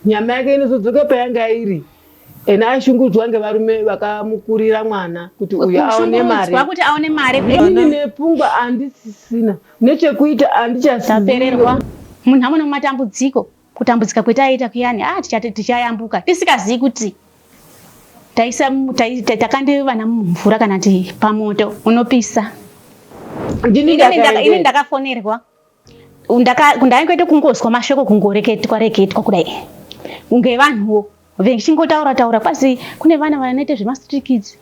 Nyama yake inozodzoka payanga iri and ashungudzwa ngevarume vakamukurira mwana kuti uyu aone mari kuti aone mari ini nepfungwa andisisina nechekuita andichasipererwa munhu amwe nomatambudziko kutambudzika kwetaiita kuyani a ah, tichati tichayambuka tisikazivi kuti taisa takandi vana mumvura kana ti pamoto unopisa ini ndakafonerwa ndaingoita kungozwa mashoko kungoreketwa reketwa kudai kunge vanhuwo vechingotaura taura kwasi kune vana vanoita zvemastreet kids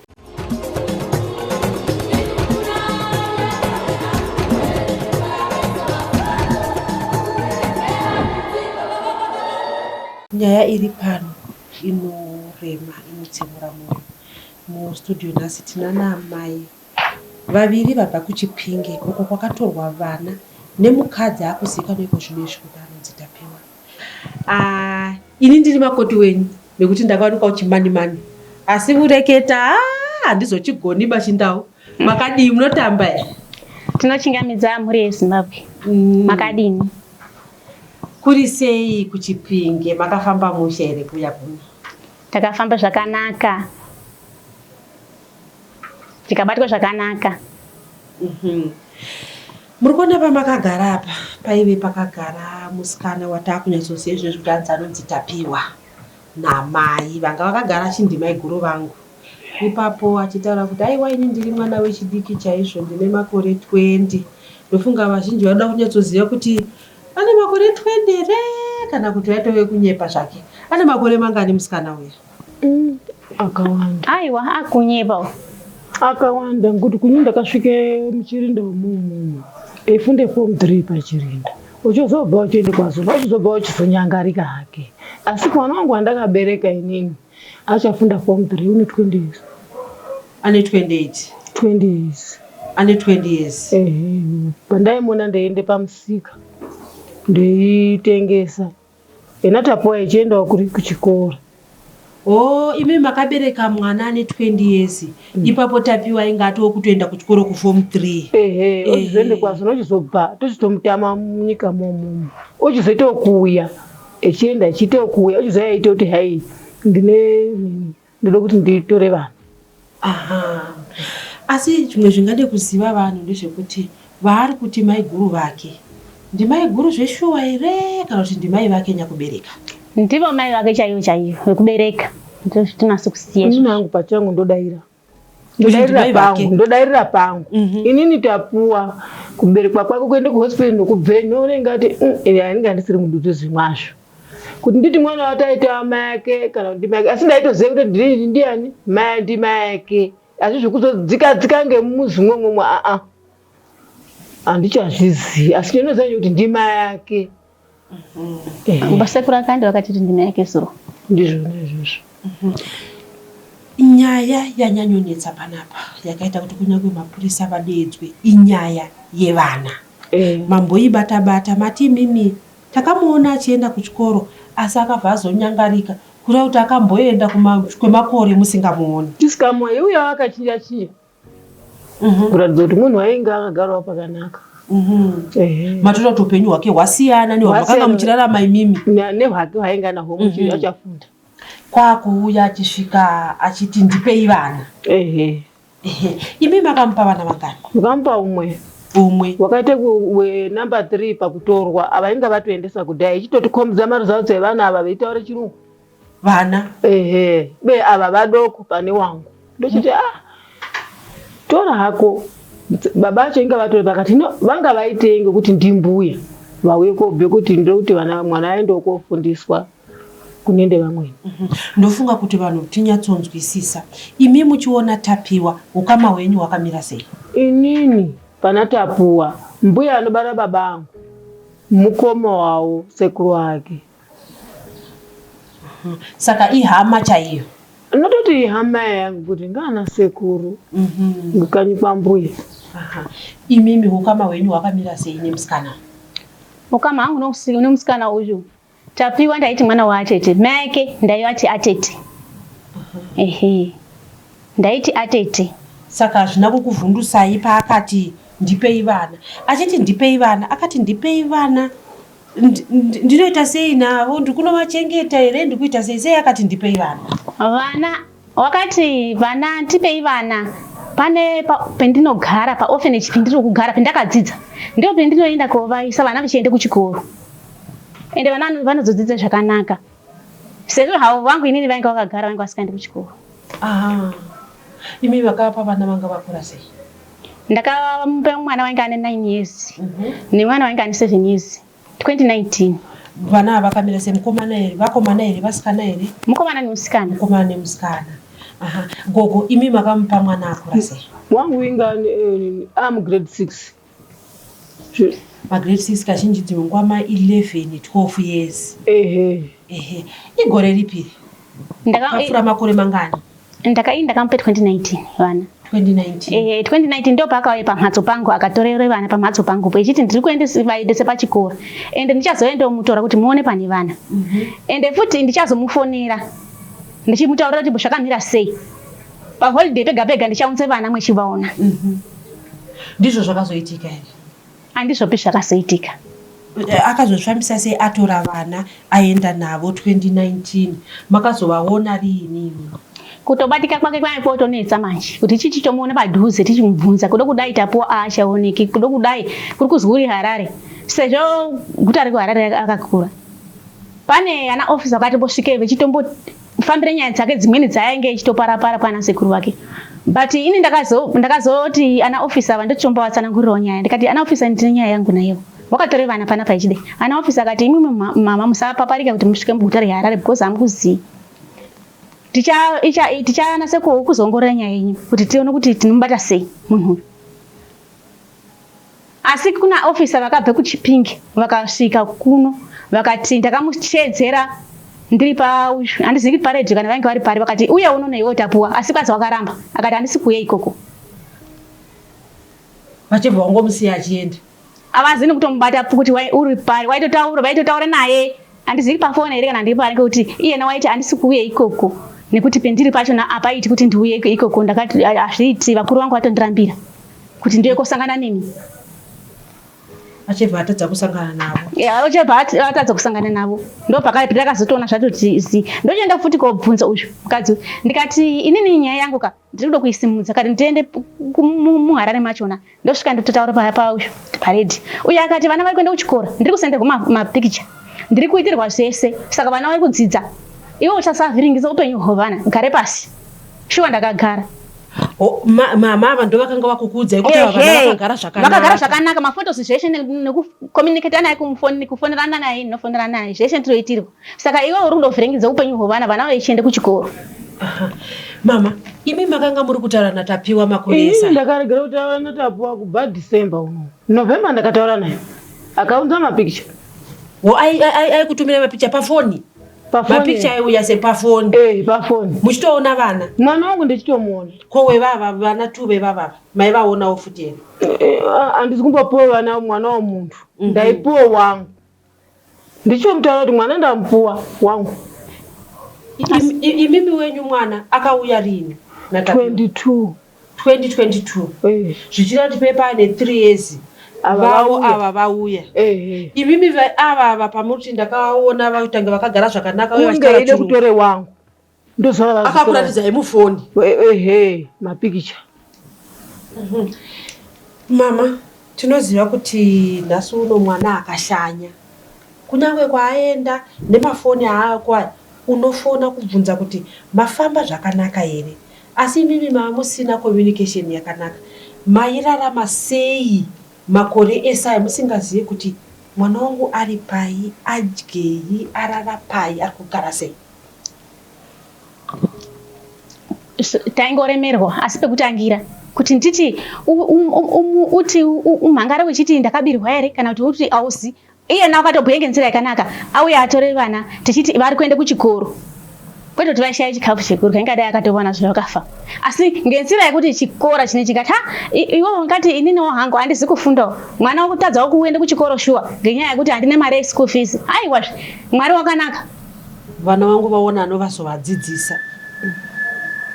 nyaya iri pano inorema inotsemura mwoyo mustudio nhasi tinana amai Vaviri vabva kuChipinge uko kwakatorwa vana nemukadzi akuzivikanwa iko zvino izvi kuti anonzi Tapiwa. Ah, ini ndiri makoti wenyu nekuti ndakawanikwa uchimanimani asi kureketa ah, handizochigoni bachindau. Makadii, munotamba here? Tinochingamidza mhuri yeZimbabwe. Mm. Makadini? Mm. Kuri sei kuChipinge? Makafamba mushe here kuya kuno? Takafamba zvakanaka. tikabatwa zvakanaka mhm. muri kuona pamakagara apa paive pakagara musikana wataakunyatsoziva izvozvi kuti anzi anonzi tapiwa namai vanga vakagara chindimai guru vangu ipapo achitaura kuti aiwa ini ndiri mwana wechidiki chaizvo ndine makore 20 ndofunga vazhinji vanoda kunyatsoziva kuti ane makore 20 here kana kuti vaitove kunyepa zvake ane makore mangani musikana uya Mm, akawanda. Aiwa akunyepa. Akawanda ngokuti kunyi ndakasvike muchirinda wemunhu eifunde form 3 pachirinda uchizobva uchiende kwazona uchizobva uchizonyangarika hake asi mwana wangu wandakabereka inini achafunda form 3 une 20 years ane 28 20 years ane 20 years ehe pandaimuona ndeiende pamusika ndeitengesa Ena tapoa ichiendawo kuri kuchikoro. Oh, imi makabereka mwana ane 20 years. Mm. Ipapo tapiwa inga atoo kutoenda kuchikoro kuform 3. Ehe, eh. ochizoende kwazo nochizobva tochitomutama munyika momo. Ochizoita okuuya echienda echiita okuuya ochizoya aita kuti hai ndine ndoda kuti nditore vanhu asi zvimwe zvingade kuziva vanhu ndezvekuti vaari kuti maiguru vake ndimaiguru zveshuwa here kana kuti ndimai vake nyakubereka ndivo mai vake chaivo chaivo vekubereka ndozvitinasi kusiya inini hangu pachangu ndodaira ndodairira pangu ndodairira pangu mhm. inini tapuwa kuberekwa kwako kuenda kuhospital ndokubveni unenge ati mm, ini andisiri mudutu zvimwazvo kuti nditi mwana wato aitava mai ake kana kuti mai ake asi ndaitoziva kuti ndinini ndiani mai ndi mai ake asi zvekuzodzikadzika ngemuzi mwomwomwo aa handichazvizivi asi ndinoziva kuti ndi mai ake mhm. basekuru akandi vakati kuti ndi mai ake zuro ndizvona izvozvo mhm. nyaya yanyanyonetsa panapa yakaita kuti kunyange mapurisa vadeedzwe inyaya yevana eh. mamboibata bata mati imimi Takamuona achienda kuchikoro asi akabva azonyangarika kureva kuti akamboenda kuma kwemakore musingamuoni. Tisikamu aiuyawo akachiya chiya kuratidza kuti munhu ainge akagarawo pakanaka. Ehe. Matoda kuti upenyu hwake hwasiyana nehwamakanga Hwasiyana. muchirarama imimi. Na- Nehwake hwainge anahwo muchiri Mhm. achafunda. Kwakuuya achisvika achiti ndipei vana. Ehe. Imi makamupa vana vangani? Ndakamupa umwe umwe wakaita number 3 pakutorwa ava inga vatoendesa kudai ichitotikhombidza maresults evana ava veitaura chirungu vana ehe be ava vadoko pane wangu ndochiti ah tora hako baba acho inga vatori pakati no vanga vaitei ngekuti ndimbuya vauye kobve kuti ndiri kuti vana mwana aendewo kofundiswa kune ndevamweni mhm. ndofunga kuti vanhu tinyatsonzwisisa imi muchiona tapiwa ukama hwenyu hwakamira sei inini pana tapuwa mbuya anobara baba angu mukoma wawo sekuru wake mhm. saka ihama chaiyo anototi ihama yangu kuti ngaana sekuru mhm. kukanyi kwambuya imimi ukama hwenyu hwakamira sei nemusikana ukama hangu nemusikana uyu Tapiwa ndaiti mwana waatete mai ake ndaivati atete ehe ndaiti atete saka hazvina kukuvhundusai paakati ndipei vana achiti ndipei vana akati ndipei vana ndinoita sei navo ndikunovachengeta here ndikuita sei sei akati ndipei vana vana Wakati vana tipei vana pane pendinogara paorphanage pendiri kugara pendakadzidza ndiko pendinoenda kovaisa vana vachienda kuchikoro ende vana vanozodzidza zvakanaka sezvo havo vangu inini vainge vakagara vainge vasikaendi kuchikoro imi vakapa vana vanga vakura sei ndakamupa mwana wainge ane nine years mhm. nemwana wainge ane seven years 2019 vana ava vakamira sei mukomana here vakomana here vasikana here mukomana nemusikana mukomana nemusikana aha gogo imi makamupa mwana akura sei wangu inga eh, am grade six magrade six kazhinji dzimwe nguva ma 11 12 years ehe ehe igore ripiri ndakafura makore mangani Ndakainda kampe 2019 vana. 2019. Eh, 2019 ndo paakauye pamhatso pangu akatorere vana pamhatso pangu po ichiti ndiri kuende vaendese pachikoro and ndichazouya ndomutora kuti muone pane vana mm -hmm. and futi ndichazomufonera ndichimutaurira kuti zvakamira sei paholiday pega pega ndichaunze vana mwechivaona mm -hmm. ndizvo zvakazoitika here Andizvopi zvakazoitika. Eh, akazozvifambisa sei atora vana aenda navo 2019 makazovaona riini kutobatika kwake kwai kwotonetsa manje kuti chii chitomuona padhuze tichimubvunza kuda kudai tapuwa aachaoneki kuda kudai kuri kuzwi uri harare sezvo guta rekuharare akakura pane ana ofisa vakatombosvikei vechitomboti kufambira nyaya dzake dzimweni dzaainge ichitoparapara kwana sekuru vake but ini ndakazoti ndakazo ana office ava ndochomba vatsanangurirawo nyaya ndikati ana office ndine nyaya yangu nayewo wakatore vana panapa ichide ana office akati imi mama musapaparika kuti musvike muguta reharare because hamukuzivi tichanase kuzongorora nyaya yenyu kuti tione kuti tinomubata sei munhu uyu Asi kuna officer vakabve kuChipinge vakasvika kuno vakati ndakamuteedzera ndiri pa handizivi kuti paredhi kana vainge vari pari vakati uye unono iwe utapuwa asi kwazi wakaramba akati handisi kuuye ikoko vachibva wangomusiya achienda avazi nekutomubata kuti uri pari waitotaura vaitotaura naye Handizivi pafoni here kana ndiripo ariko kuti iyena waiti andisi kuuye ikoko nekuti pendiri pacho apaiti kuti ndiuye ikoko ndakati hazviiti vakuru vangu vatondirambira kuti ndiuye kosangana nemi achibva atadza kusangana navo achibva atadza kusangana navo ndopakaipi ndakazotoona zvatoti zi ndochienda futi kobvunza uyu mukadzi ndikati inini nyaya yangu ka ndiri kuda kuisimudza kati ndiende muharare machona ndosvika ndototaura paya pausho paredi uye akati vana vari kuenda kuchikoro ndiri kusenderwa mapikicha ndiri kuitirwa zvese saka vana vari kudzidza iwe uchasavhiringisa upenyu hwevana gare pasi shuwa ndakagara mama ava ndo vakanga vakukuudzai kuti vakagara zvakanakavakagara zvakanaka mafotos zveshe nekucommunicata naye kufoni nekufonerana naye ndinofonera naye zveshe ndinoitirwa Saka iwe uri kundovhiringidza upenyu hwevana vana vaichiende kuchikoro. Mama, imi makanga muri kutaura naTapiwa makunesa. Ndakaregera kutaura naTapiwa kubva December uno. November ndakataura naye. Akaunza mapikicha. Wo aikutumira mapikicha pafoni. Mapikicha aiuya sepafoni. Eh, pafoni. Muchitoona vana. Mwana wangu ndichitomuona. Ko wevava vana tu vevava. Mai vaonawo futi here? Eh, eh, ah, Andisi kumbopiwa vana mwana womuntu. Mhm. Ndaipiwa wangu. ndichomutaura kuti mwana ndamupuwa wangu imimi wenyu mwana akauya rini 22 2022 eh. zvichira kuti pepa ane 3 years vavo ava vauya eh, eh. imimi ava ava pamuri kuti ndakaona vatanga vakagara zvakanaka uye vachitaura kuti vatore wangu akakuratidza yemufoni ehe mapikicha mhm. mama tinoziva kuti nhasi uno mwana akashanya kunyange kwaaenda nemafoni aako aya unofona kubvunza kuti mafamba zvakanaka here asi imimi maamusina communication yakanaka mairarama sei makore ese aya musingazivi kuti mwana wangu ari pai adyei arara pai ari kugara sei taingoremerwa asi pekutangira kuti nditi uti umhangare wechiti ndakabirwa here kana kuti uti ausi iyena wakatobhuya ngenzira yakanaka auya atore vana tichiti vari kuenda kuchikoro kwete kuti vaishaya chikafu chekurya ingadai akatowana zve vakafa asi ngenzira yekuti chikora chine chikati ha iwe ungati ininiwo hangu handizi kufundawo mwana wakutadzawo kuenda kuchikoro shuwa ngenyaya yekuti handine mari yeschool fees aiwazve mwari wakanaka Vana vangu vaona anovazovadzidzisa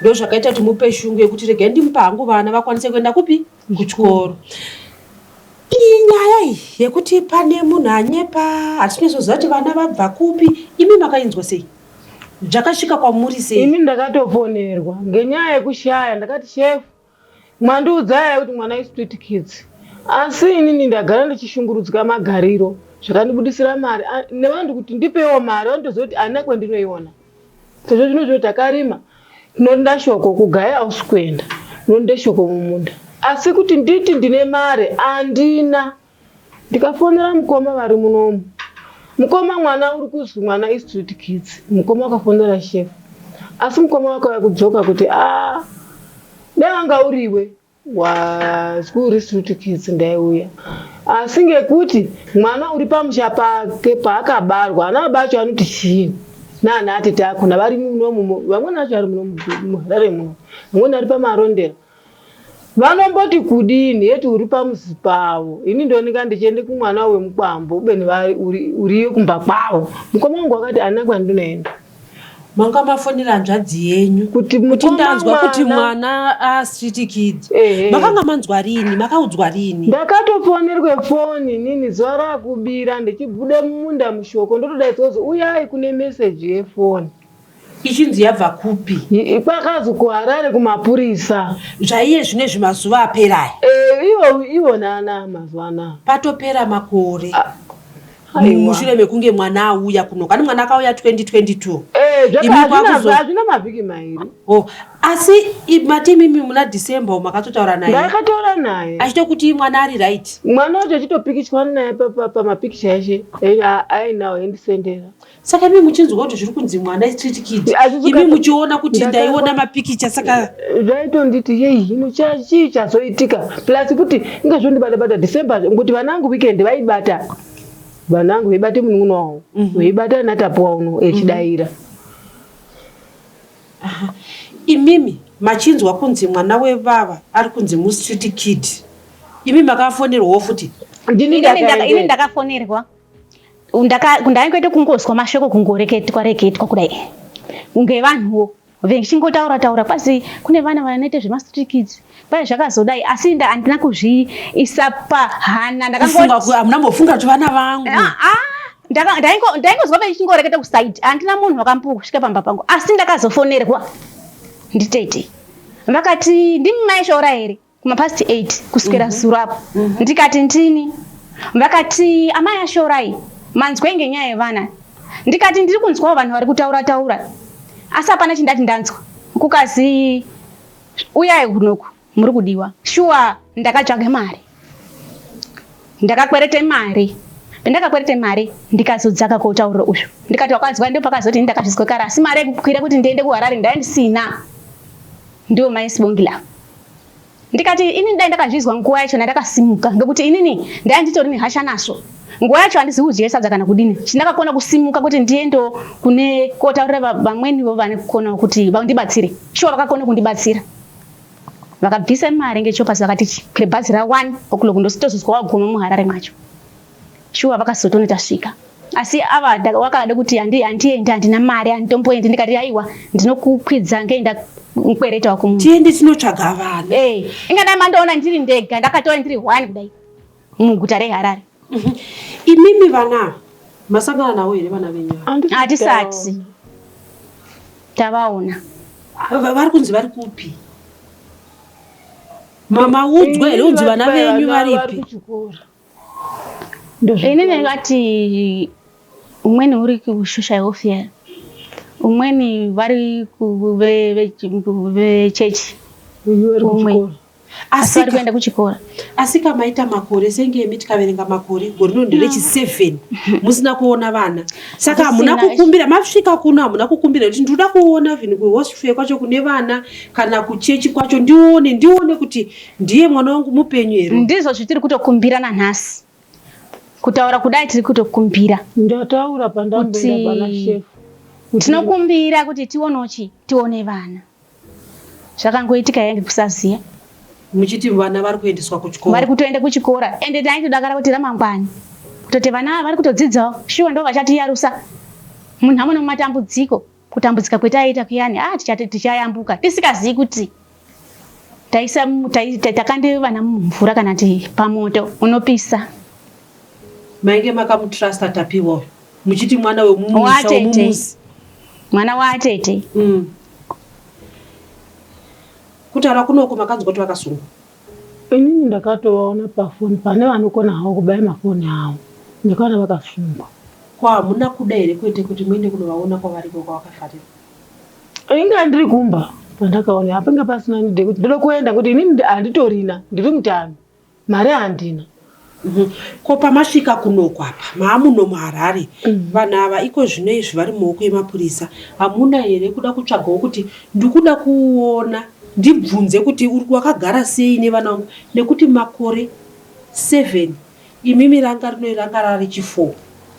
ndozvakaita kuti mupe shungu yekuti regai ndimupe hangu vana vakwanise kuenda kupi kuchikoro iyi nyaya iyi yekuti pane munhu anyepa hatisi kunyatsoziva kuti vana vabva kupi imi makainzwa sei zvakasvika kwamuri sei imi ndakatoponerwa ngenyaya yekushaya ndakati shefu Mwandiudza here kuti mwana istreet kids asi inini ndagara ndichishungurudzika magariro zvakandibudisira mari nevanhu kuti ndipeiwo mari vandizoziva kuti haina kwendinoiona sezvo zvino zvino takarima tinorinda shoko kugaya ausi kuenda tinorinda shoko mumunda asi kuti nditi ndine mari handina ndikafonera mukoma vari munomu mukoma mwana uri kuzwi mwana istreet kids mukoma akafonera shef asi mukoma wakauya kudzoka kuti a ah, dai wanga uriwe wazwi uri street kids ndaiuya asi ngekuti mwana uri pamusha pake paakabarwa ana bacho anoti chii naana atete akona vari munomu vamweni vacho vari munomuharare muno vamweni vari pamarondera Vanomboti kudini yet uri pamuzi pavo ini ndonenga ndichiende kumwana wemukwambo ubeni vari uri, uriyo kumba kwavo. Mukoma wangu wakati handina kwandinoenda. Manga mafonera hanzvadzi yenyu Kuti kuti mukoma ndanzwa kuti mwana- mwana a street kid. Ehe. Makanga manzwa rini? Makaudzwa rini? Ndakatofonerwe foni inini zuva rakubira ndichibude mumunda mushoko ndotodaidzwa kuti uyai kune message yefoni. ichinzi yabva kupi kwakazi kuharare kumapurisa zvaiye zvine zvimazuva aperai eh, ivo ivo nana mazuva anaa patopera makore ah, mushure mekunge mwana auya kuno kani mwana akauya 2022 hazvina eh, mavhiki mairi oh, asi mati imimi muna december umo akatotaura naye akataura naye achito kuti mwana ari right mwana wacho achitopikichwa naye pamapikicha eshe ainawo endisendera saka imi muchinzwa kuti zviri kunzi mwana street kid imi muchiona kuti ndaiona mapikicha saka zvaitonditi yei hino chii chazoitika plus kuti inga zvondibata bata december ngokuti vana vangu weekend vaibata vana vangu veibata munun'una wavo mhm. veibata natapuwa uno echidaira mhm. imimi machinzwa kunzi mwana wevava ari kunzi mustreet kid imi makafonerwawo futi ini ndakafonerwa ndaingoita kungozwa mashoko kungoreketwa reketwa kudai kunge vanhuwo vechingotaura taura kwasi kune vana vanoita zvemastreet kids kwai zvakazodai asi inda handina kuzviisa pahana ndakamuna mbofunga kuti vana vangu ah, ah, ndaingozwa vechingoreketa kusaidi handina munhu wakambuka kusvika pamba pangu asi ndakazofonerwa nditete vakati ndimi maishoora here kumapast 8 kusvikira mhm. zuro apo mhm. ndikati ndini vakati amai ashorai manzwei ngenyaya yevana ndikati ndiri kunzwawo vanhu vari kutaura taura asi hapana chindati ndanzwa kukazi uyai kunoku muri kudiwa shuwa ndakatsvage mari ndakakwerete mari pendakakwerete mari ndikazodzaka koutauriro uzvo ndikati wakanzwa ndo pakazoti ini ndakazvizwekara asi mari yekukwira kuti ndiende kuharare ndaya ndisina ndiwo maisibongilavo ndikati inini dai ndakazvizwa nguva yacho ndandakasimuka ndokuti inini ndai nditori nehasha nasvo nguva yacho handizivi kudya sadza kana kudini chindakakona kusimuka kuti ndiendewo kune kotaurira vamwenivo vane kukonawo kuti vandibatsire shuwa vakakona kundibatsira vakabvisa mari ngechopasi vakati kure bhazi ra one o'clock ndositozozwa waguma muharare macho Shuwa vakasotona tasvika asi ava wakada kuti handi handiendi handina mari handitomboendi ndikati aiwa ndinokukwidza ngeenda mkwereta wakumu tiende tinotsvaga vanhu hey, eh, ingadai mandoona ndiri ndega ndakatova ndiri one kudai muguta reharare mhm. imimi vana masangana nawo here vana venyu hatisati tavaona vari kunzi vari kupi mama udzwa here unzi vana venyu varipi ini ndingati umweni uri kushusha yofia umweni vari vechechi umwe asi vari kuenda kuchikora asi kamaita makore senge emi tikaverenga makore gore rino nderechiseven mm. musina kuona vana saka hamuna kukumbira masvika kuno hamuna kukumbira kuti ndinoda kuona vhin kuhospital kwacho kune vana kana kuchechi kwacho ndione ndione kuti ndiye mwana wangu mupenyu here ndizvo zvitiri kutokumbira nanhasi kutaura kudai tiri kutokumbira ndataura pandamboenda tinokumbira kuti tionewo chi tione vana zvakangoitika yange kusaziva muchiti vana vari kuendeswa kuchikora vari kutoenda kuchikora ende taitodakara kuti ramangwani kutoti vana ava vari kutodzidzawo shuwa ndo vachatiyarusa munhamo nomumatambudziko Kutambudzika kwetaiita kuyani ah, tichayambuka tisikazivi kuti taisa takandi vana mumvura kana ti pamoto unopisa mainge makamutrusta tapiwa uyu muchiti mwana wemumusi mwana waatete mm. kutaura kunoko makanzwa kuti vakasungwa Inini ndakatovaona pafoni pane vanokona havo kubaya mafoni avo ndakaona vakasungwa. Ko hamuna kuda here kwete kuti muende kunovaona kwavari ikoko kwavakafarira? Inga ndiri kumba pandakaona hapanga pasina need yekuti ndoda kuenda ngekuti inini handitorina ndiri mutano mari handina. Mhm. Ko pamasvika kunoko apa maamuno muHarare mhm. vanhu ava iko zvino izvi vari mumaoko emapurisa hamuna here kuda kutsvagawo kuti ndikuda kuona ndibvunze kuti uri wakagara sei nevana vangu nekuti makore seven imimi ranga rinoi ranga rari chifour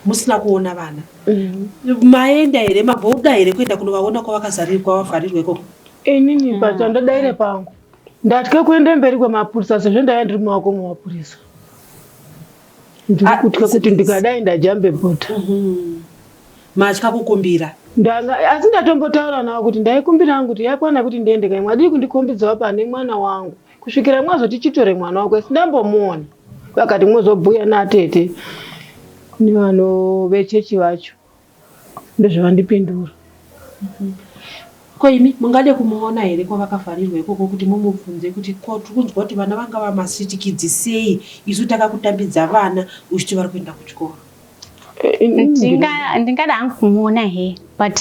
musina kuona vana mhm. maenda here mabouda here kuenda kunovaona kwavakazarirwa vavharirwa ikoko inini pachandodaire pangu Ndatya kuenda mberi kwemapurisa sezvo ndaiva ndiri mumaoko mwemapurisa. Ndiri ah, kutya kuti ndikadai ndajambe bota. Mhm. Matya kukumbira? Ndanga asi ndatombotaura navo kuti ndaikumbira hangu kuti yakwana kuti ndiende kai mwadii kundikombidzawo pane mwana wangu kusvikira mwazoti chitore mwana wako asi ndambomuona vakati mwozobhuya natete nevano vechechi vacho ndozvavandipindura ko imi mungade kumuona here kwavakavharirwa ikoko kuti mumubvunze kuti ko tiri kunzwa kuti vana vanga vamasitikidzi sei isu takakutambidza vana uchiti vari kuenda kuchikoro ndingada hangu kumuona he but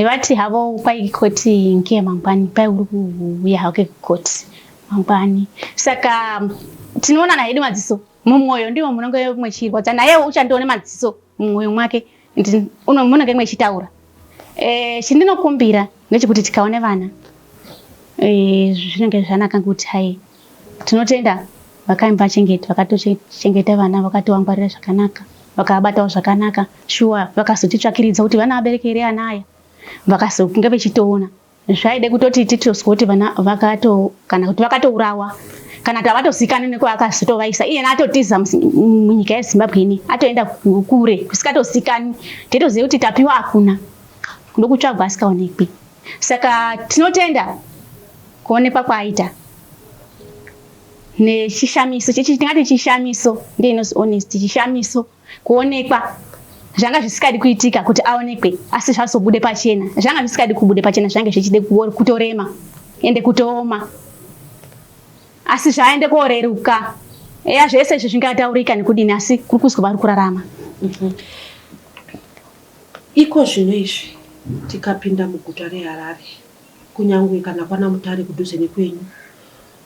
vati havo kwai koti ngiye mangwani kwai uri kuuya hake kukoti mangwani saka tinoonana hedu madziso Mumwoyo ndimo munenge mwechirwadza nayewo uchandione madziso mumwoyo mwake munenge mwechitaura eh, chindinokumbira ndechekuti tikaone vana eh, zvinenge zvanaka kuti hai tinotenda vakaimba chengeti vakatochengeta vana vakatowangwarira zvakanaka vakavabatawo zvakanaka shuwa vakazotitsvakiridza kuti vana vabereki here ana aya vakazokunge vechitoona zvaide kutoti titoswe kuti vana vakato kana kuti vakatourawa kana kuti havatozikanwi nekwaakatovaisa iyena atotiza munyika yezimbabwe ine atoenda kure kusikatozikanwi titoziva kuti tapiwa hakuna ndokutsvagwa asikaonekwi saka tinotenda kuonekwa kwaaita nechishamiso tingati chishamiso ndeinos honest chishamiso kuonekwa zvanga zvisikadi kuitika kuti aonekwe asi zvazobude pachena zvanga zvisikadi kubude pachena zvange zvichide kutorema ende kutooma asi zvaende koreruka eya zvese izvi zvingataurika nekudini asi kuri kuzwa vari kurarama mhm. iko zvino izvi tikapinda muguta reharare kunyange kana kwana mutare kudhuze nekwenyu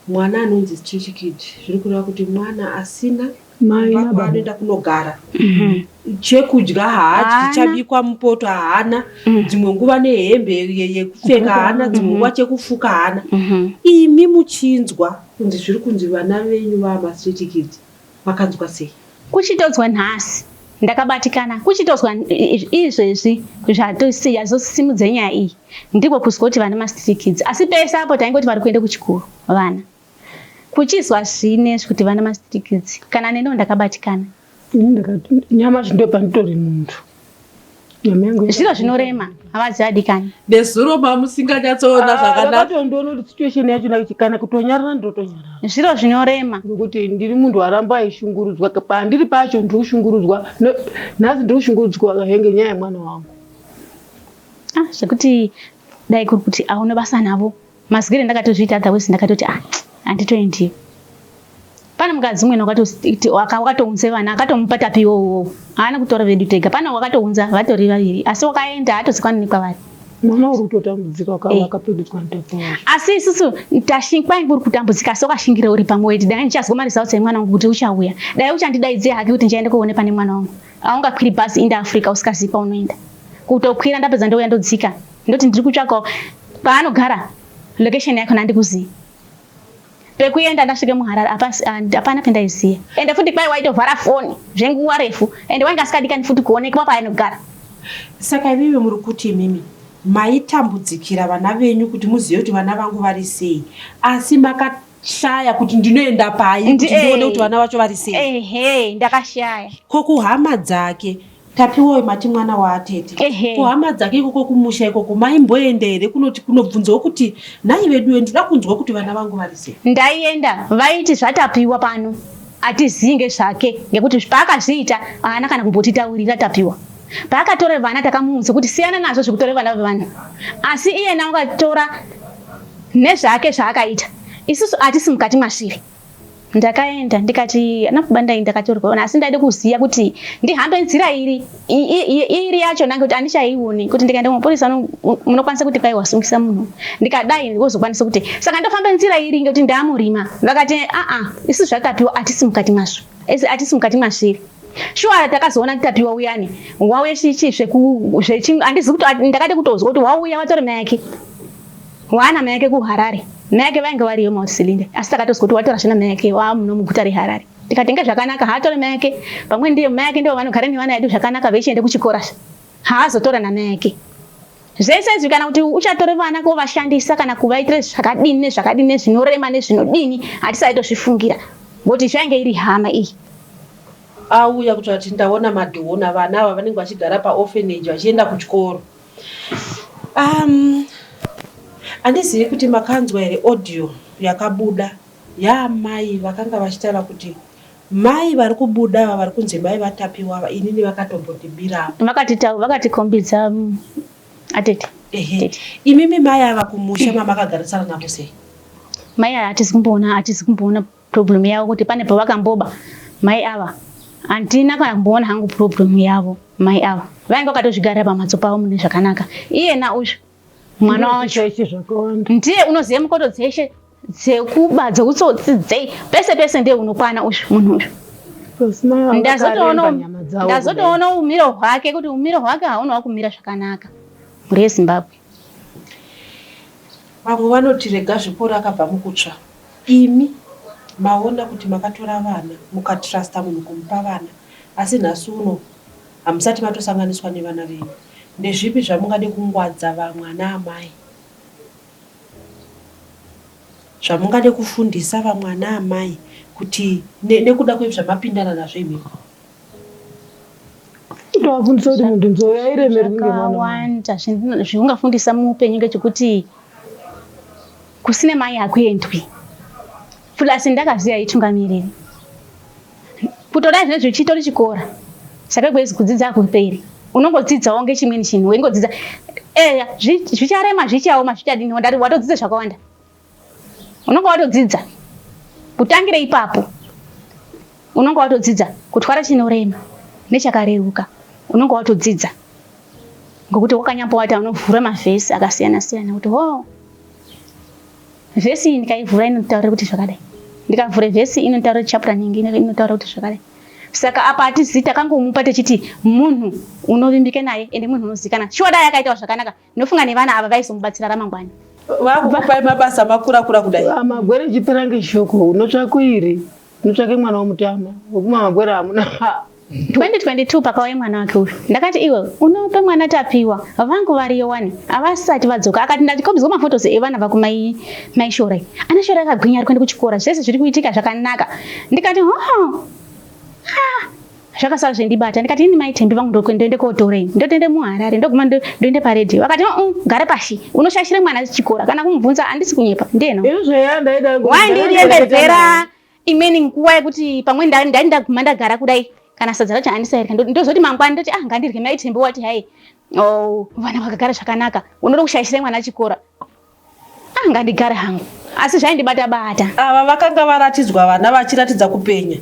mwana anonzi chichikid zviri kureva kuti mwana asina Mai Baba nababa. anoenda kunogara chekudya haadyi Haana. chabikwa mupoto haana dzimwe nguva nehembe ye- yekupfeka haana dzimwe nguva chekufuka haana imi muchinzwa kunzi zviri kunzi vana venyu vaamastreet kids makanzwa sei kuchitodzwa nhasi ndakabatikana kuchitodzwa i- izvezvi zvatosi- yazosimudza nyaya iyi ndiko kuzwa kuti vana mastreet kids asi pese apo taingoti vari kuenda kuchikoro vana Kuchizwa zvine zvikuti vana masitikidzi kana neniwo ndakabatikana. Ini ndakati nyamashi ndo panditori muntu. Nyama yangu zviro zvinorema havazi adikani. Nezuro mamusinganyatsoona ah, zvakanaka. Ndakatondiona kuti situation yacho kana kutonyarara ndotonyarara. Zviro zvinorema. Ngokuti ndiri munhu waramba aishungurudzwa pandiri pacho ndiri kushungurudzwa nhasi ndiri kushungurudzwa henge nyaya yemwana wangu. Ah zvekuti dai kuri kuti aune basa navo. Mazigire ndakatozviita otherwise ndakatoti ah handitoendiyo. Pane mukadzi umwe wakatounza vana akatomupa tapi iwowo iwowo haana kutora vedu tega pane wakatounza vatori vaviri asi wakaenda haatozikwani nekwavari mwana uri kutotambudzika wakavakapedudzwa eh. mutapo asi isusu tashikwa uri kutambudzika asi wakashingira uri pamwe weti dai ndichazwa maresults emwana wangu kuti uchauya dai uchandidaidzira hake kuti ndichaenda koone pane mwana wangu aungakwiri bhazi inde africa usikazivi paunoenda kutokwira ndapedza ndouya ndodzika ndoti ndiri kutsvaka paanogara location yakona andikuzivi pekuenda ndasvike muharare hapana pendaiziva ende futi kwai waitovhara foni zvenguva refu ende wainge asikadikani futi kuonekwa paainogara saka ivive muri kuti imimi maitambudzikira vana venyu kuti muzive kuti vana vangu vari sei asi makati shaya kuti ndinoenda pai kuti ndione kuti vana vacho vari sei ehe ndakashaya ko kuhama dzake tapiwoi mati mwana waatete kuhama dzake ikoko kumusha ikoko maimboenda here kunoti kunobvunzawo kuti nhai veduwe ndinoda kunzwa kuti vana vangu vari sei ndaienda vaiti zvatapiwa pano atizivi ngezvake ngekuti paakazviita haana kana kumbotitaurira tapiwa paakatore vana takamuudza kuti siyana nazvo zvekutore vana vevanhu asi iyena wakatora nezvake zvaakaita isusu atisi mukati masviri ndakaenda ndikati ana baba ndai ndakatorwaona asi ndaida kuziva kuti ndihambe nzira iri iri yacho ndange kuti andichaione kuti ndikaenda kumapurisa munokwanisa kuti kwai wasungisa munhu ndikadai wozokwanisa kuti saka ndofamba nzira iri ngekuti ndaamurima vakati aa isu zvatapiwa atisi mukati mazvo ese atisi mukati masviri shuwa takazoona kutapiwa uyani wauye chichi zvehandizi kuti ndakade kutozwa kuti wauya watori mayake waana mayake kuharare mayake vainge variyo mausilinde asi takatozwa kuti watora zvina mayake waamuno muguta reharare tikatenge zvakanaka haatore mayake pamwe ndiye mayake ndivo vanogara nevana yedu zvakanaka vechiende kuchikora haazotora namayake Zvese izvi kana kuti uchatore vana kovashandisa kana kuvaitire zvakadini nezvakadini nezvinorema nezvinodini hatisaitozvifungira ngoti zvainge iri hama iyi auya kuti ati ndaona madhona vana ava vanenge vachigara paorphanage vachienda kuchikoro um, handizivi kuti makanzwa here audio yakabuda yaamai vakanga vachitaura kuti Mai vari kubuda ava vari kunzi mai vaTapiwa ava inini vakatombondibira apa. Vakatita vakatikombidza mm, atete. Ehe. Tete. Imimi mai ava kumusha mamakagarisana navo sei? Mai ava hatizi kumboona hatizi kumboona problem yavo kuti pane pavakamboba mai ava. Handina kana kumboona hangu problem yavo mai ava. Vainge vakatozvigarira pamhatso pavo mune zvakanaka. Iyena uyu mwana wacho ndiye unoziva mukoto dzeshe dzekuba dzeutsotsi dzei pese pese ndiye unokwana uyu munhu uyu ndazotoona umiro hwake kuti umiro hwake hauna wakumira zvakanaka mhuri yezimbabwe vamwe vanoti rega zvikoro akabva mukutsva imi maona kuti makatora vana mukatrusta munhu kumupa vana asi nhasi uno Hamusati matosanganiswa nevana venyu ndezvipi zvamungade kungwadza vamwe ana amai zvamungade kufundisa vamwe ana amai kuti ne, nekuda kwezvamapindana nazvo imimi ndovafundisa kuti munhu nzou yairemerwi ngevakawanda zviungafundisa muupenyu ngechekuti kusine mai hakuendwi plus ndakaziva itungamiriri kutoda zvinezvi uchitori chikora saka kwezi kudzidza hakuperi unongodzidzawo ngechimweni chinhu weingodzidza eya zvicharema zvichaoma zvichadini wandari watodzidza zvakawanda unonga watodzidza kutangire ipapo unonga watodzidza kutwara chinorema nechakareruka unonga watodzidza ngokuti wakanyambowata unovhura mavhesi akasiyana siyana kuti hoo oh. Vhesi iyi ndikaivhura inotaura kuti zvakadai. Ndikavhura vhesi inotaura chapter nyingi inotaura kuti zvakadai. Saka apa atizivi takangomupa techiti munhu unovimbika naye ende munhu unozikana. Shuwa dai akaitawo zvakanaka ndofunga nevana ava vaizomubatsira ramangwana. Vakupai mabasa makura kura kudai. Amagwere ah, chipirange shoko unotsvakuiri. Nditsvake mwana womutama wekuma magwera hamuna 2022 pakauya mwana wake uyu ndakati iwe unope mwana tapiwa vangu variyo wani havasati vadzoka akati ndatikombidzwa mafotos evana vakumai mai shore ana shore akagwinya ari kuenda kuchikora zvese zviri kuitika zvakanaka ndikati ho zvakasara zvendibata ndikati ini mai thembi vangu ndoende kotorei ndotoende muharare ndoguma ndoende paredhiyo vakati mm, gare pashi unoshashire mwana chikora kana kumubvunza handisi kunyepa ndiyena waindirembedzera imweni nguva yekuti pamwe ndainda ndaguma ndagara kudai kana sadza racho handisairya ndozoti mangwana ndoti ah ngandirye mai thembi wati hai oh, vana vakagara zvakanaka unoda kushayisira mwana chikora Ah, ngandigare hangu asi zvaindibata bata. Ava vakanga varatidzwa vana vachiratidza kupenya.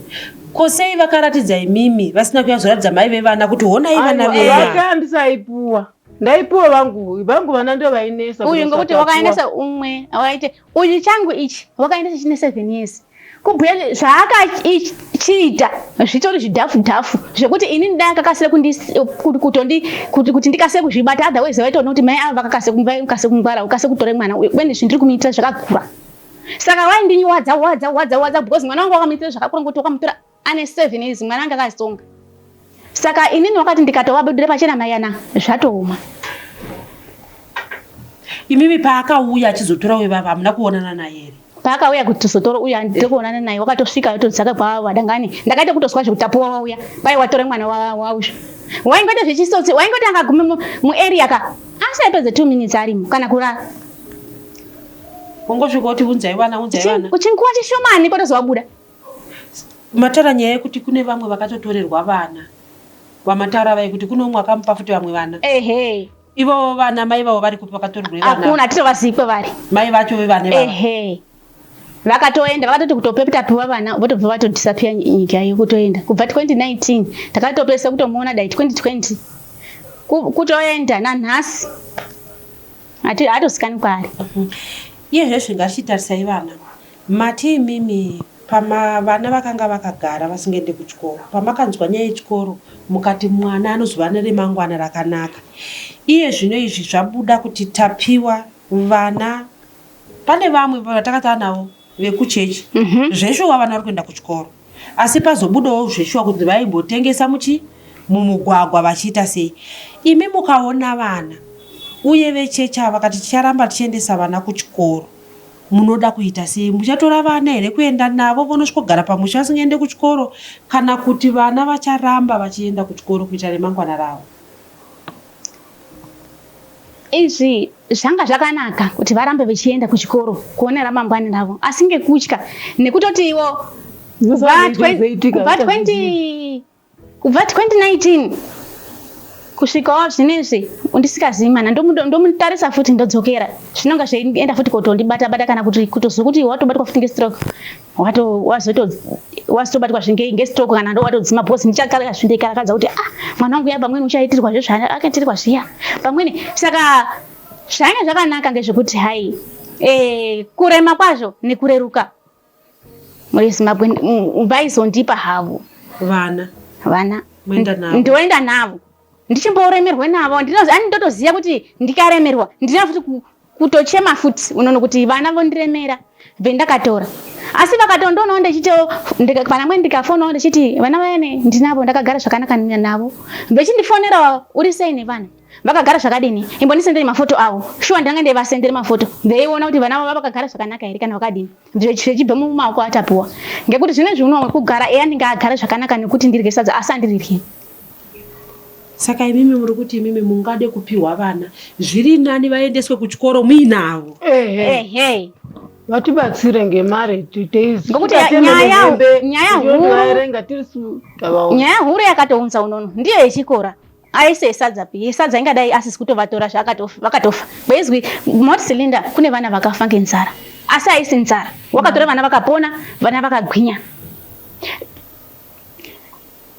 Ko sei vakaratidza imimi vasina kuyazoratidza mai vevana kuti honai vana venyu. Vaka ndisaipuwa. Ndaipuwa vangu, vangu vana ndo vainesa. Uyu ngokuti wakaendesa umwe, awaite. Uyu changu ichi wakaendesa chine 7 years. kubhuya zvaakachiita zvitori zvidhafu dhafu zvekuti ini ndai akakasira kutondi kuti ndikasire kuzvibata otherwise vaitoona kuti mai ava vakakasira vakasire kungwara ukasire kutora mwana uyu kubeni zvindiri kumuitira zvakakura saka vaindinywadza wadza wadza wadza because mwana wangu wakamuitira zvakakura ngokuti wakamutora ane seven years mwana anga akazonga saka inini wakati ndikatovabudira pachena mayana zvatooma imimi paakauya achizotora uyo vava hamuna kuonana naye here paakauya kuti tizotora uya ndiri kuonana naye wakatosvika yotodzaka kwavadangani ndakaita kutozwa zvekutapuwa wauya pai watore mwana wauzvo waingoita zvechisotsi waingoti akagume muarea ka asi aipedze two minutes arimo kana kurara wongosvika kuti unzai vana unzai vana uchinguva chishomani potozovabuda Mataura nyaya yekuti kune vamwe vakatotorerwa vana wamataura vaye kuti kune umwe akamupa futi vamwe vana ehe ivo vana mai vavo vari kupi vakatorerwa vana hakuna titovazivi kwevari mai vacho vevane vavo ehe vakatoenda vakatoti kutope kutapiwa vana votobva vatodisappear nyika iyo kutoenda kubva 2019 takatopesa kutomuona dai 2020 Ku- kutoenda nanhasi Hati- haatosikani kwaari iye zvesvi ngatichitarisai vana Mati imimi pama vana vakanga vakagara vasingaende kuchikoro pamakanzwa nyaya yechikoro mukati mwana anozova neremangwana rakanaka iye zvino izvi zvabuda kuti Tapiwa vana pane vamwe vatakatava navo vekuchechi mm -hmm. zveshuwa vana vari kuenda kuchikoro asi pazobudawo zveshuwa kuti vaimbotengesa muchi mumugwagwa vachiita sei imi mukaona vana uye vechechi ava vakati ticharamba tichiendesa vana kuchikoro Munoda kuita sei? Muchatora vana here kuenda navo vonosvikogara pamusha vasingaende kuchikoro kana kuti vana vacharamba vachienda kuchikoro kuitira remangwana ravo? Izvi zvanga zvakanaka kuti varambe vechienda kuchikoro kuona ramangwana ravo asi ngekutya nekutoti ivo kubva 20 kubva 2019 kusvikawo zvinezvi undisikazivi mana ndomutarisa futi ndodzokera zvinonga zveienda futi kotondibata bata kana kuti kutozwa kuti watobatwa futi ngestroke watobatwa zvingei ngestroke kana ndo watodzima bcause ndichakala zvindikarakadza kuti ah mwana wangu ya pamweni uchaitirwa zve zvaakaitirwa zviya pamweni saka zvainge zvakanaka ngezvekuti hai eh, kurema kwazvo nekureruka muri zimbabwe vaizondipa havo vana vana ndoenda navo ndichimbooremerwe navo ani ndotoziva kuti ndikaremerwa ndina futi kutochema futi unono kuti vana vondiremera vendakatora asi vakatondoonawo ndichitiwo vana mwe ndikafonawo ndichiti vana vayane ndinavo ndakagara zvakanaka navo vechindifonerawo uri sei nevana vakagara zvakadini imbondisendere mafoto avo shuwa ndanga ndaivasendere mafoto ndeiona kuti vana vava vakagara zvakanaka here kana vakadini zvichibva mumaoko atapuwa ngekuti zvine zviuno wamwe kugara eya ndinge agara zvakanaka nekuti ndirye sadza asi andirirye saka imimi muri kuti imimi mungade kupiwa vana zviri nani vaendeswe kuchikoro muinavo ehe vatibatsire ngemari ngokuti nyaya huru yakatounza unono ndiyo yechikora aise yesadza pi yesadza ingadai asisi kutovatora zvavakatofa bezwi mot cylinder kune vana vakafa ngenzara asi aisi nzara wakatora vana vakapona vana vakagwinya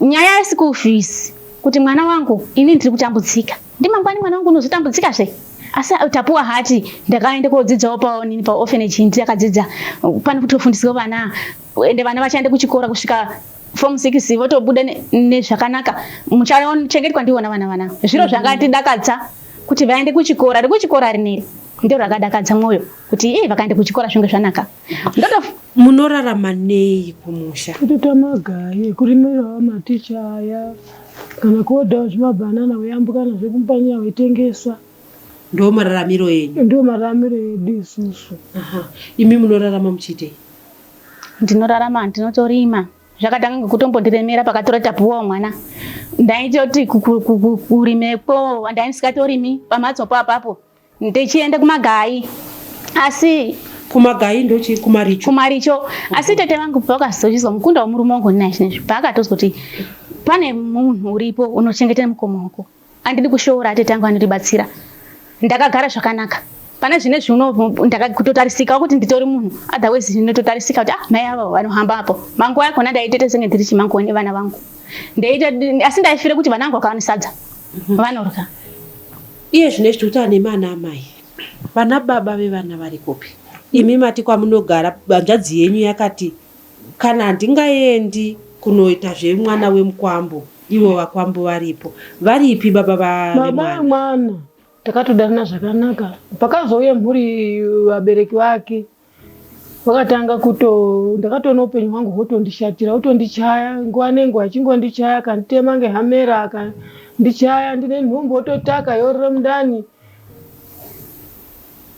nyaya yeschool fees kuti mwana wangu ini ndiri kutambudzika ndimangwani mwana wangu unozotambudzika zve asi tapuwa hati ndakaenda kodzidzawo paonini paorphanage ndiyakadzidza pano kutofundiswa vana ende vana vachaenda kuchikora kusvika form 6 votobuda nezvakanaka ne muchachengetwa ndivo na vana vana zviro mm. zvakatidakadza kuti vaende kuchikora rekuchikora rineri ndiro rakadakadza mwoyo kuti e vakaenda kuchikora zvinge zvanaka ndoto munorarama nei kumusha kutoita magaye kurimirawo maticha aya kana kuodawo zvimabhanana veyambuka nazvo kumpanyaya veitengesa ndo mararamiro enyu ndo mararamiro edu isusu imi munorarama muchiitei ndinorarama ndinotorima zvakatanga ngokutombondiremera pakatora tapuwa mwana ndaitoti kurimekwo ndaisingatorimi pamhatso po apapo ndichienda kumagai asi kumagai ndochi kumaricho kumaricho asi tete vangu pavakazozvizwa mukunda womurume wangu ndinai zvinezvi paakatozoti pane munhu uripo unochengetera mukoma wako Andidi kushoora atete angu anondibatsira. Ndakagara zvakanaka. Pane zvine zviuno ndakakutotarisika kuti nditori munhu. Otherwise ndinototarisika kuti ah mai ava vanohamba apo. Manguva yakona ndaitete senge ndiri chimanguva nevana vangu. Ndaita asi ndaifira kuti vana vangu vakawanisadza. Mhm. Vanorya. Iye zvine zvikuti ane mana amai. Vana baba vevana vari kupi? Imi mati kwamunogara hanzvadzi yenyu yakati Kana handingaendi kunoita zvemwana wemukwambo ivo vakwambo varipo. Varipi baba vemwana? Baba vemwana takatodanana zvakanaka. Pakazouya mhuri vabereki vake vakatanga kuto ndakatoona upenyu hwangu hwotondishatira otondichaya nguva nenguva achingondichaya akanditema ngehamera akandichaya ndine nhumbu ototaka yorira mundani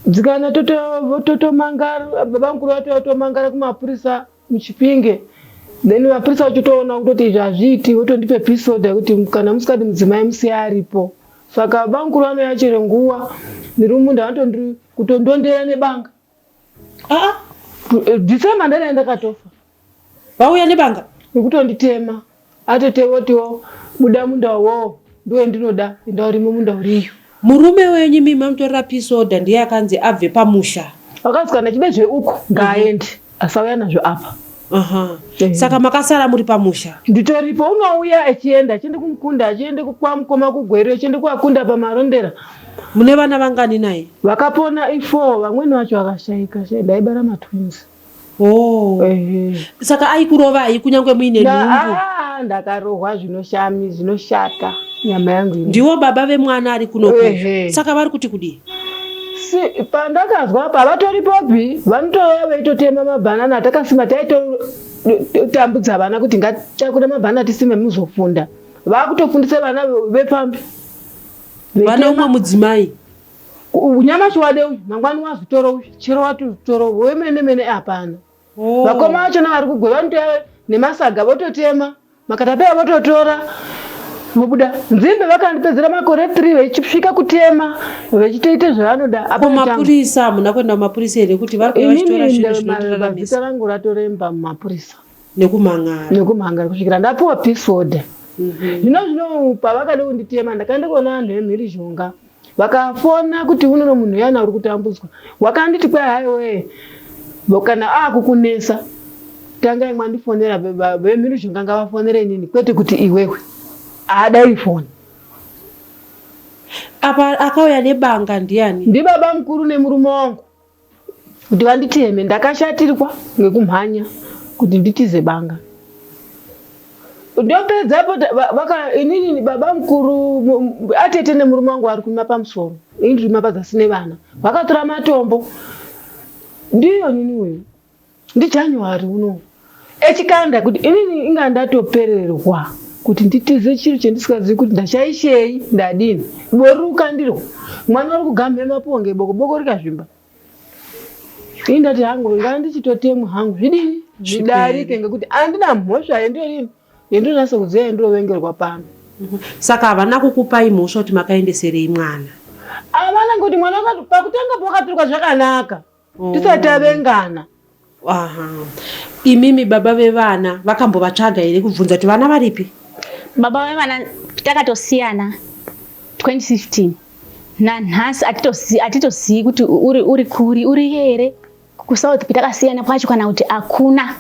dzikana totomangara toto baba mukuru vato vatomangara kumapurisa muchipinge then mapurisa vachitoona kutoti izvi hazviiti votondipe pisoda yekuti kana musikadi mudzimai musiya aripo saka baba mukuru vanouya chero nguva ndiri mumunda vanotondondondera nebanga aa ah, ah, eh, december ndaiya ndakatofa vauya nebanga nekutonditema atete votiwo buda munda uwowo ndiwe ndinoda enda urimo munda uriyo murume wenyu mimi mamutorera pisoda ndiye akanzi abve pamusha vakanzi kana chide zveuko ngaaende asauya nazvo apa Aha. Eh. saka makasara muri pamusha nditoripo unouya achienda achiende kumukunda achiende kwamukoma kugweri achiende kuakunda pamarondera mune vana vangani naye vakapona ifo vamweni vacho vakashaika shaika ndaibara matwins Oh. Saka aikurovai kunyange muine nhumbu? Ah, ndakarohwa zvinoshami zvinoshata nyama yangu ino. Ndiwo baba vemwana ari kuno kuno. Saka vari kuti kudii? Si, pandakazwa apa vatoripopi vanotouya veitotema mabhanana atakasima taitotambudza vana kuti ngatitakure mabhanana tisime muzofunda vakutofundisa vana vepambi vane umwe mudzimai nyamashi wade uyu mangwani wazvitora uyu chero wati uzvitora uyu wemene mene hapana oh. vakoma vacho navari kugwe vanoteva nemasaga vototema makatapeya vototora vobuda nzimbe vakandipedzera makore three vechisvika kutema vechitoita zvavanoda apomapurisa hamuna kuenda kumapurisa here kuti varikuaitorazita rangu ratoremba mumapurisa nekumhangara nekumhangara kusvikira ndapiwa peace order mhm. zvino zvino pavakada kunditema ndakaenda kuona vanhu vemhirizhonga vakafona kuti unono munhu yana uri kutambudzwa wakanditi kwai haiwee kana akukunetsa tangai mwandifonera vemhirizhonga ngavafonere inini kwete kuti iwewe haadai foni apa akauya nebanga ndiani ndibaba mukuru nemurume wangu kuti vanditeme ndakashatirwa ngekumhanya kuti nditize banga ndopedzapo inini baba mukuru atete nemurume wangu vari kuima pamusoro ini ndiri mapazasi nevana vakatora matombo ndiyo nini uyu ndijanuary uno echikanda kuti inini inga ndatopererwa kuti nditize chiro chandisikazivi kuti ndachaishei ndadini bori rukandirwa mwana uri kugamhe maponge boko boko rikazvimba ini ndati hangu ngaa ndichitotemwa hangu zvidini zvidarike ngekuti andina mhosva yendorini yendonasa kuziva yendovengerwa pano mhm. saka havana kukupai mhosva kuti makaendeserei mwana havana ngekuti mwana pakutanga pakaturwa zvakanaka oh. tisati avengana imimi baba vevana vakambovatsvaga here kubvunza kuti vana varipi baba vevana takatosiyana 2015 nanhasi atitozivi kuti uri kuri uri here kusouth takasiyana kwacho kana kuti hakuna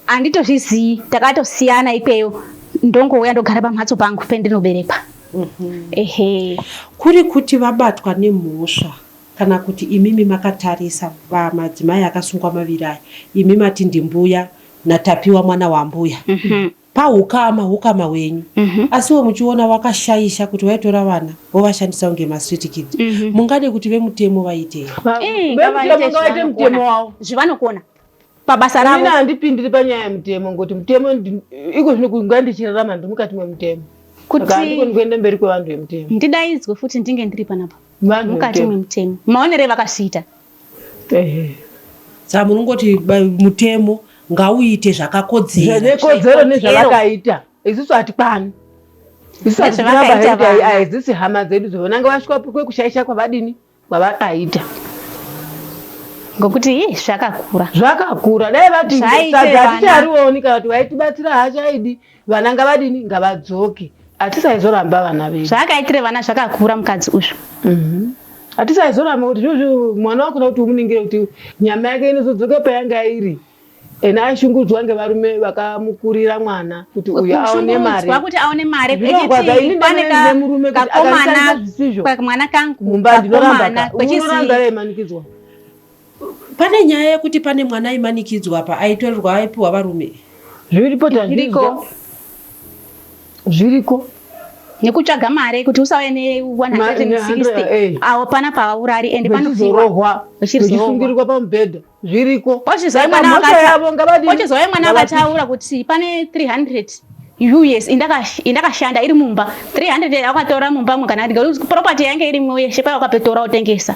handitozvizivi takatosiyana ikweyo ndongouya ndogara pamhatso pangu pendinoberekwa mhm. ehe kuri kuti vabatwa nemhosva Kana kuti imimi makatarisa pamadzimai akasungwa maviri aya imi mati ndimbuya naTapiwa mwana wambuya pahukama hukama hwenyu asiwo muchiona wakashaisha kuti waitora vana wovashandisa kunge mastreet kids mungade kuti vemutemo vaitei? Vemutemo ngavaite mutemo wavo. Zvivanokona. pabasa ravo ini handipindiri panyaya yemutemo ngokuti mutemo iko zvino kunga ndichirarama ndiri mukati memutemo kutiandikoni kuenda mberi kwevanhu vemutemo ndidaidzwe futi ndinge ndiri panapa mukati memutemo maonere vakazviita saa munongoti mutemo ngauite zvakakodzeranezvekodzero nezvavakaita isusu hatikwani isusu hatiaaizisi hama dzedu dzovonanga vasvika kwekushaisha kwavadini kwavakaita ngokuti hi zvakakura zvakakura dai vati sadza haticharioni kana kuti vaitibatsira haachaidi vana ngavadini ngavadzoke hatisaizoramba vana vedu zvaakaitire vana zvakakura mukadzi uzvo mhm. hatisaizoramba kuti zvozvo mwana wakuda kuti umuningire kuti nyama yake inozodzoka payanga iri ena aishungudzwa ngevarume vakamukurira mwana kuti uyu aone mariwa kuti aone mari echitiinemurume akakomana zvisizvo mwana kangu mumba ndinorambaka unoramba yaimanikidzwa pane nyaya yekuti pane mwana aimanikidzwa apa aitorerwa aipiwa varume zviripo tazviriko zviriko nekutsvaga mari kuti usauye ne 160 awo pana pavaurari ende panozorohwa vachisungirirwa pamubhedha zviriko wachizouya mwana akataura kuti pane 300 us indakashanda iri mumba 300 akatora mumba mwe kana property yange irimwo yeshe paya wakapetora wotengesa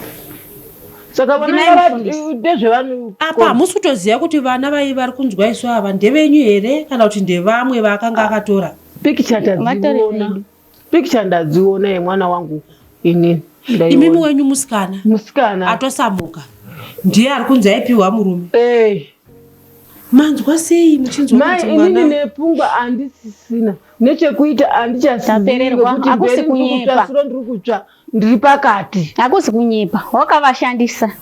apa hamusi kutoziva kuti vana vai vari kunzwa isu ava ndevenyu here kana kuti ndevamwe vaakanga akatora pikicha tadziona Picture ndadziona yemwana wangu inini. Imimi wenyu musikana. Musikana. Atosamuka. Ndiye ari kunzi aipiwa murume. Eh. Manzwa sei muchinzwa kuti mwana. Mai inini nepfungwa handisisina. Nechekuita handichasipererwa. Hakusi kunyepa. Ndiri kutsva. Ndiri pakati. Hakusi kunyepa. Wakavashandisa.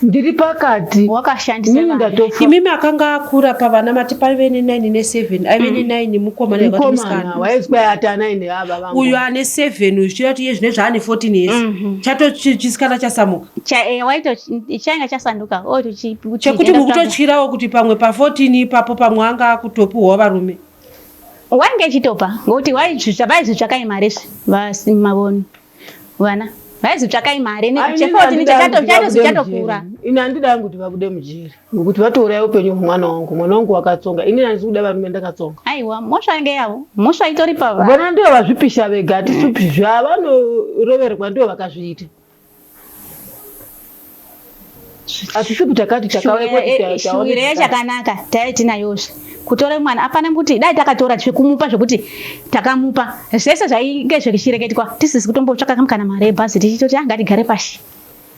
Ndiri pakati. Wakashandisa. Mimi ndatofa. Imimi akanga akura pavana mati paive ne 9 ne 7. Aive ne 9 mm. mukoma ne vati musikana. Waizwa yata 9 ava vangu. Uyu ane 7 uyu chirati ye zvine zvaane 14 years. Mhm. Chato chisikana chasamuka. Cha eh waito changa chasanduka. Oh to chi. Chekuti mukutotyirawo kuti pamwe pa 14 ipapo pamwe anga akutopuwa varume. wainge ichitopa ngokuti vaizvitsvakai imari izvi vasimavoni vana vaizvitsvakai imari nekuchekotinichakatokura ini handida yangu kuti vabude mujeri ngokuti vatouraya upenyu hwemwana wangu mwana wangu wakatsonga ini handisi kuda varume ndakatsonga aiwa mhosva yange yavo mhosva itori pavana ndivo vazvipisha vega hatisupi zvavanoroverwa ndivo vakazviita hatisi kuti takati takashuvira yachakanaka taive tinayozve kutora mwana apana kuti dai takatora zvekumupa zvekuti takamupa zvese zvainge zvechireketwa tisizi kutombotsvaka kam kana mari yebhazi tichitoti anga ah, tigare pashi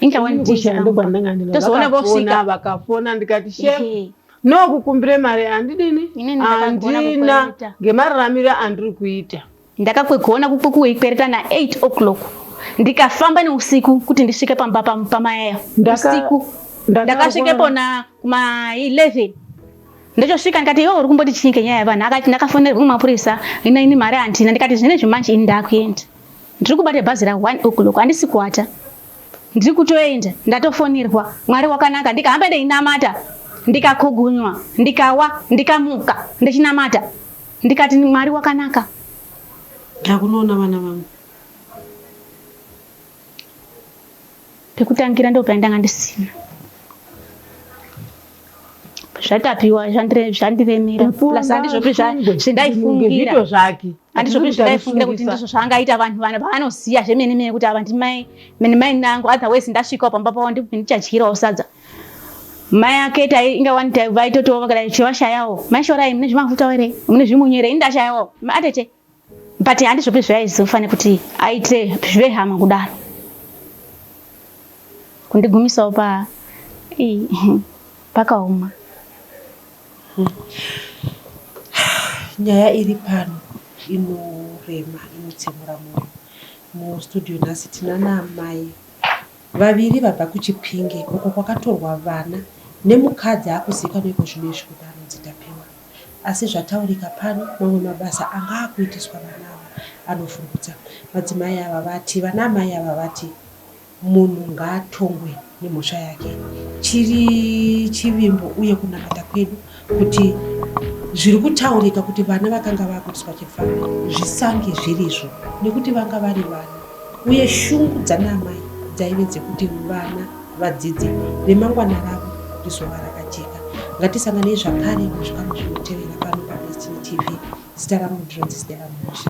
ingawanitozoona vosvika vakafona ndikati she nokukumbire mari andidini andina ngemararamiro andiri kuita Ndakakwegona kuikwereta na 8 o'clock ndikafamba neusiku kuti ndisvike pamba pamayayo usiku ndakasvikepo na ma 11 ndachosvika ndikati iwe uri kumboti chii kenyaya yevanhu akati ndakafonerwa kumapurisa ina ini mari handina ndikati zvine zvimanje ini ndakuenda ndiri kubata bhazi ra one o'clock handisi kuata ndiri kutoenda ndatofonerwa mwari wakanaka ndikahamba ndeinamata ndikakogunywa ndikawa ndikamuka ndichinamata ndikati mwari wakanaka ndakunoona vana vangu pekutangira ndo paindanga ndisina zvatapiwa zvandiremera plus handizvopi zvandaifungira handizvopi zvandaifungira kuti ndizvo zvaangaita vanhu vana vaanoziva zvemene mene kuti ava ndimai mene mai nangu otherwise ndasvikawo pamba pavo ndichadyirawo sadza mai ake tai inga wani tai vaitotiwo vakadai chivashayawo maishorai mune zvimafuta here mune zvimunyu here ini ndashayawo atete but handizvopi zvaizofane kuti aite zvive hama kudaro kundigumisawo pa pakaoma nyaya iri pano inorema inotsemura moyo mustudio nhasi tina naamai Vaviri vabva kuChipinge uko kwakatorwa vana nemukadzi akuzikanwa ikozvino izvi kuti anonzi Tapiwa asi zvataurika pano mamwe mabasa anga akuitiswa vana ava anovhundutsa. Madzimai ava vati vana amai ava vati munhu ngaatongwe nemhosva yake chiri chivimbo uye kunamata kwedu kuti zviri kutaurika kuti vana vakanga vakuiswa chifaro zvisange zvirizvo nekuti vanga vari vana uye shungu dzanaamai dzaive dzekuti vana vadzidze remangwana ravo rizova rakajeka ngatisanganei zvakare muzvikano zvinotevera pano padestiny tv zita rangu ndironzi stela musha